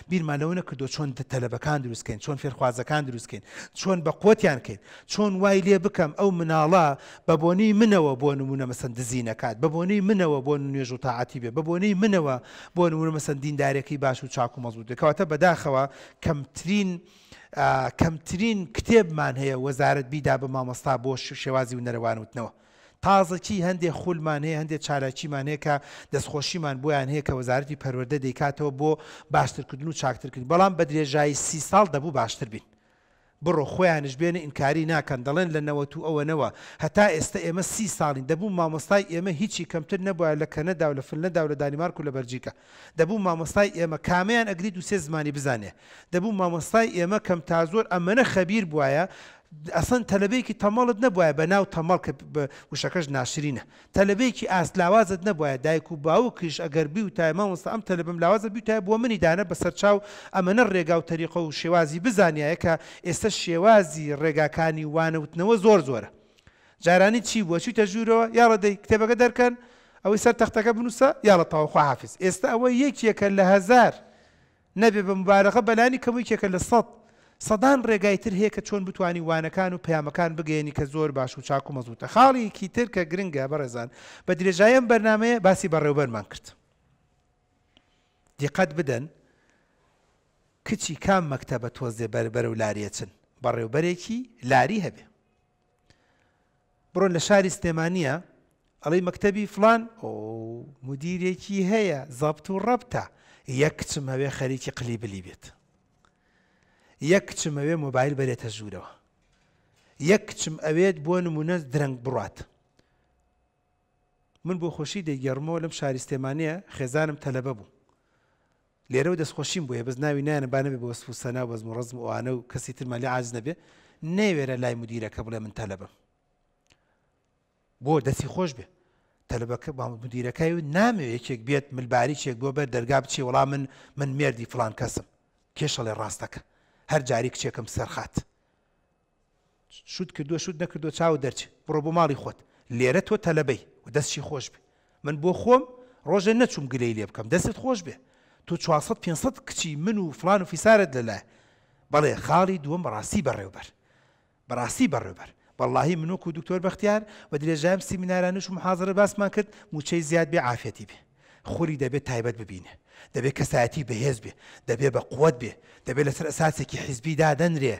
بیرمان لەوە نەکردووە چۆن تەلەبەکان دروست کەین، چۆن فێرخوازەکان دروست کەین، چۆن بەقوەتیان کەین، چۆن وای لێ بکەم ئەو مناڵە بە بۆنەی منەوە بۆ نموونە مەسەن دزی نەکات، بە بۆنەی منەوە بۆ نوێژ و تاعەتی بێ، بە بۆنەی منەوە بۆ نموونە مەسەن دیندارێکی باش و چاک و مەزبووت بێ. کەواتە بەداخەوە کەمترین کەمترین کتێبمان هەیە وەزارەت بیدا بە مامۆستا بۆ شێوازی ونەرەوان وتنەوە. تازەکی هەندێ خولمان هەیە، هەندێ چالاکیمان هەیە کە دەستخۆشیمان بۆیان هەیە کە وەزارەتی پەروەردە دەیکاتەوە بۆ باشترکردن و چاکترکردنی، بەڵام بە درێژایی سی ساڵ دەبوو باشتر بین. بڕۆ خۆیانیش بێنە ئینکاری ناکەن دەڵێن لە نەوەت و ئەوەنەوە هەتا ئێستە ئێمە سی ساڵین دەبوو مامۆستای ئێمە هیچی کەمتر نەبوایە لە کەنەدا و لە فنلەندا و لە دانیمارک و لە بەلجیکا دەبوو مامۆستای ئێمە کامەیان ئەگری دوو سێ زمانی بزانێ دەبوو مامۆستای ئێمە کەمتازۆر ئەمەنە خەبیر بوایە ئەسڵەن تەلەبەیەکی تەمەڵت نەبوایە بە ناو تەمەڵ کە وشەکەش ناشرینە. تەلەبەیەکی ئاست لاوازت نەبوایە دایک و باوکیش ئەگەر بیوتایە مامۆستا ئەم تەلەبەم لاوازە بیوتایە بۆ منی دانە بەسەر چاو ئەمەنە ڕێگا و تەریقە و شێوازی بزانیایە کە ئێستە شێوازی ڕێگاکانی وانەوتنەوە زۆر زۆرە جارانی چی بووە چویتە ژوورەوە یاڵە دەی کتێبەکە دەرکەن ئەوەی سەر تەختەکە بنووسە یاڵە تەواو خواحافیز ئێستە ئەوە یەکێکە لە هەزار نەبێ بە موبالغە بەلانی کەم یکێکە لە سەد، سەدان رێگای تر هەیە کە چۆن بتوانی وانەکان و پەیامەکان بگەیەنی کە زۆر باش و چاک و مەزبوتە خاڵیکی تر کە گرنگە بەڕێزان بە درێژایی ئەم بەرنامەیە باسی بەڕێوبەرمان کرد دیقەت بدەن کچی کام مەکتەبە تۆزێ بەر بەرەو لاریەچن بەڕێوبەرێکی لاری هەبێ. بڕۆ لە شاری سلێمانیە ئەڵی مەکتەبی فلان ئۆ مدیرێکی هەیە زەبت و ڕەبتە یەک کچم هەوێ خەریکی قلی بلی بێت یەک کچم ئەوێ مۆبایل بەرێتە ژوورەوە یەک کچم ئەوێت بۆ نمونە درەنگ بڕات من بۆ خۆشی دەیگەڕمەوە لەم شاری سلێمانەیە خێزانم تەلەبە بوو لێرەوە دەستخۆشیم بۆیە بەس ناوی نایەنە با نەبێ بە وەسف و سەنا و بەزم و ڕەزم ئەوانە و کەسی ترمان لێ عاجز نەبێ نەیوێرا لای مدیرەکە بڵێ من تەلەبەم بۆ دەسی خۆش بێ تەلبەکە با مدیرەکەی و نامێ یەکێک بێت ملباریچێک بۆ بەر دەرگا بچێ وڵا من من مردی فلان کەسم کێشەڵێ ڕاستەکە هەر جاری کچێکم سەرخات شوت کردوە شوت نەکردوە چاوت دەرچ بڕۆ بۆ ماڵی خۆت لێرە تۆ تەلەبەی و دەسشی خۆش بێ من بۆ خۆم ڕۆژێ نەچوم گلەی لێ بکەم دەستت خۆش بێ تۆ چوار سەد پێنج سەد کچی من و فڵان و فیسارت لەلایە بەڵێ خاڵی دووەم بەڕاستی بەڕێوبەر بەڕاستی بەڕێوبەر بەڵاهی من وەکو دکتۆر بەختیار بە درێژایم سیمینارانش و محازەرە باسمان کرد موچەی زیاد بێ عافیەتی بێ. خوری دەبێ تایبەت ببینێ، دەبێ کەسایەتی بەهێز بێ، دەبێ بە قوەت بێ، دەبێ لەسەر ئەساسێکی حیزبی دادەنرێ،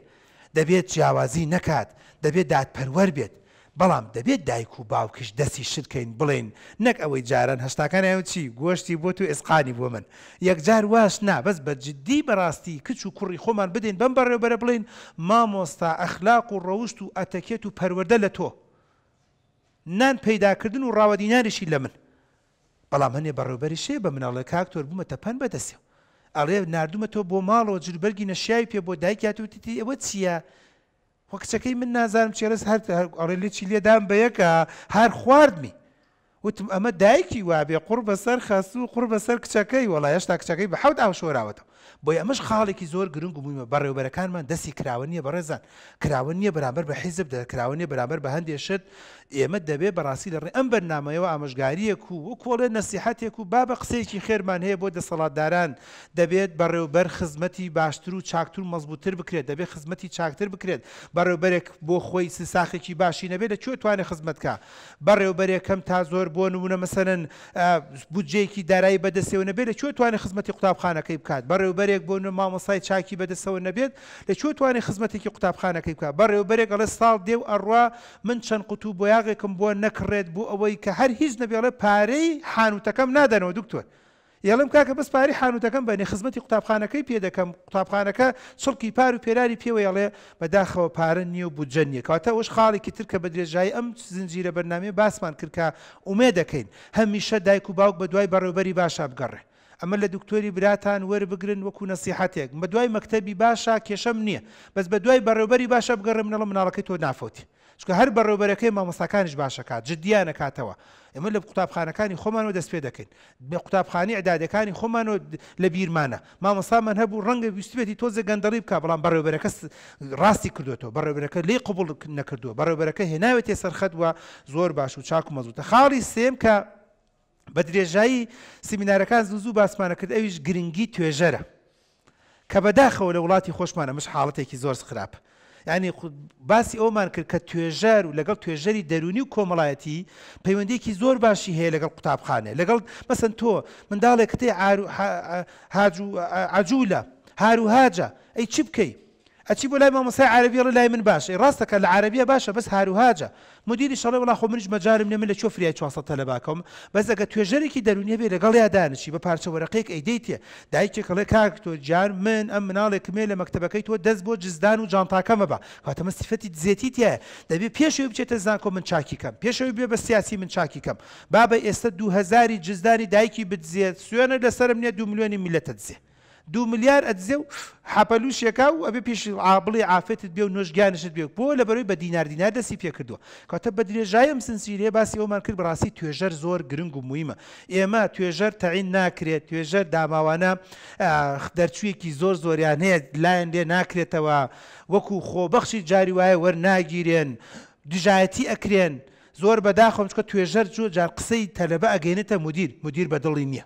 دەبێت جیاوازی نەکات، دەبێ دادپەروەر بێت، بەڵام دەبێ دایک و باوکیش دەستی شل کەین بڵێین نەک ئەوەی جاران هەشتاکان ئەوە چی گۆشتی بۆ تو ئێسقانی بۆ من یەکجار واش نا بەس بە جدی بەراستی کچ و کوڕی خۆمان بدەین بەم بەڕێوبەرە بڵێین مامۆستا ئەخلاق و ڕەوشت و ئەتەکێت و پەروەردە لە تۆ نان پەیدا کردن و ڕاوە دیناریشی لە من بەڵام هەنێ بەڕێوبەریش هەیە بە مناڵ ئەڵێ کاک تۆر بوومەتە پەن بە دەسێ و ئەڵێ ناردوومەتەوە بۆ ماڵەوە جلوبەرگی نەشیاوی پێ بۆ دایکی هاتووە وتیتی ئەوە چییە وە کچەکەی من نازانم چی ڕێز هەر هەر ئەڵێ لێ چی لێدام بە یەکە هەر خواردمی وتم ئەمە دایکی وابێ قوڕ بەسەر خەسوو قوڕ بەسەر کچەکەی وەڵا هێشتا کچەکەی بە حەوت ئاو شۆراوەتەوە بۆیە ئەمەش خاڵێکی زۆر گرنگ و مویمە، بەڕێوەبەرەکانمان دەستی کراوە نیە بەڕێزان، کراوە نیە بەرامبەر بە حیزب، دە کراوە نیە بەرامبەر بە هەندێ شت، ئێمە دەبێ بەڕاستی لە ڕێی ئەم بەرنامەیەوە ئامۆژگاریەک و وەکو ئەڵێن نەسیحەتێک و بابە قسەیەکی خێرمان هەیە بۆ دەسەڵاتداران، دەبێت بەڕێوبەر خزمەتی باشتر و چاکتر و مەزبوتتر بکرێت، دەبێت خزمەتی چاکتر بکرێت، بەڕێوبەرێک بۆ خۆی سساخێکی باشی نەبێت لە کوێ توانێ خزمەت کا؟ بەڕێوبەرێکەم تا زۆر بۆ نمونە مەسەلەن بودجەیەکی دارایی بەدەستەوە نەبێت لە کوێ توانێت خزمەتی قوتابخانەکەی بکات بەڕێوبەرێک بۆ نمونە مامۆستای چاکی بەدەستەوە نەبێت لە کوێ توانێت خزمەتێکی قوتابخانەکەی بکات بەڕێوبەرێک ئەڵێ ساڵ دێ و ئەڕوا من چەند قوتوو بۆیاغێکم بۆ نەکڕێت بۆ ئەوەی کە هەر هیچ نەبێ ئەڵێ پارەی حانوتەکەم نادەنەوە دکتۆر یەڵم کاکە بەس پارەی حانوتەکەم بەنێ خزمەتی قوتابخانەکەی پێ دەکەم قوتابخانەکە چڵکی پار و پێراری پێوە یەڵێ بەداخەوە پارە نیە و بودجە نیە کەواتە ئەوەش خاڵێکی تر کە بەدرێژایی ئەم زنجیرە بەرنامەیە باسمان کرد کە ئومێد دەکەین هە میشە دایک و باوک بەدوای بەڕێوبەری باشا بگەڕێ ئەمە لە دکتۆری براتان وەر بگرن وەکو نەسیحەتێک بەدوای مەکتەبی باشا کێشەم نیە بەس بەدوای بەڕێوبەری باشا بگەڕێ منەڵم مناڵەکەی تۆ نافەوتێ چونکە هەر بەڕێوبەرەکەی مامۆستاکانیش باشەکات جدیانە کاتەوە ئمە لە قوتابخانەکانی خۆمانەوە دەست پێ دەکەین بە قوتابخانی عدادەکانی خۆمانەوە لە بیرمانە مامۆستامان هەبوو ڕەنگە ویستێتی تۆزە گەندەڵی بکە بەڵام بەڕێوبەرەکە ڕاستی کردوێتەوە بەڕێبەرەکە لی قوبڵ نەکردووە بەڕێبەرەکە هێناوێتێ سەرخەتوە زۆر باش و چاک و مەزوتە خاڵی سێم کە بە درێژایی سیمینارەکان زوو زوو باسمانە کرد ئەویش گرنگی توێژەرە کە بە داخەوە لە وڵاتی خۆشمان ئەمەش حاڵەتێکی زۆر خراپ یانی باسی ئەومان کرد کە توێژەر و لەگەڵ توێژەری دەرونی و کۆمەڵایەتی پەیوەندێکی زۆر باشی هەیە لەگەڵ قوتابخانێ لەگەڵ مەسن تۆ منداڵێک کتێ عجوولە هاروهاجە ئەی چی بکەیت ئەچی بۆ لای مامۆستای عارەبی ئەڵێ لای من باشە ئێ ڕاست دەکات لە عارەبیە باشە بەس هاروهاجە مودیریش ئەڵێ وەڵا خۆ منیش مەجالم نیە من لە کوێ فریای چوار سەد تەلەبا کەوم بەس ئەگەر توێژەرێکی دەرونی هەبێ لەگەڵیا دانیشی بە پارچە وەرەقەیەک ئەیدەیتێ دایکێک ئەڵێ کاک تۆ گیان من ئەم مناڵێکمێ لە مەکتەبەکەی تۆ دەست بۆ جزدان و جانتاکە مەبە کەواتە من سیفەتی دزێتی تیایە دەبێ پێش ئەوی بچێتە زانکۆ من چاکی کەم پێش ئەوی بێ بە سیاسی من چاکی کەم بابە ئێستە دوو هەزاری جزدانی دایکی بدزێ سوێنە لەسەرم نیە دوو ملیۆنی میلەت ئەدزێ. دوو ملیار ئەدزێ و حەپەلوو شێکا و ئەبێ پێش عا بڵێ عافێتت بێ و نۆش گیانشت بێ و بۆ لەبەرەوەی بە دینار دینار دەستی پێ کردووە کەواتە بە درێژایی ئەم سنسیرەیە باسی ئەوەمان کرد بەڕاستی توێژەر زۆر گرنگ و مویمە ئێمە توێژەر تەعین ناکرێت توێژەر داماوانە ئاخ دەرچوویەکی زۆر زۆریان هەیە لایان لێ ناکرێتەوە وەکوو خۆبەخشی جاری وایە وەرناگیرێن دژایەتی ئەکرێن زۆر بەداخەوەم چونکە توێژەر جۆ جار قسەی تەلەبە ئەگەینێتە مودیر مودیر بە دڵی نییە.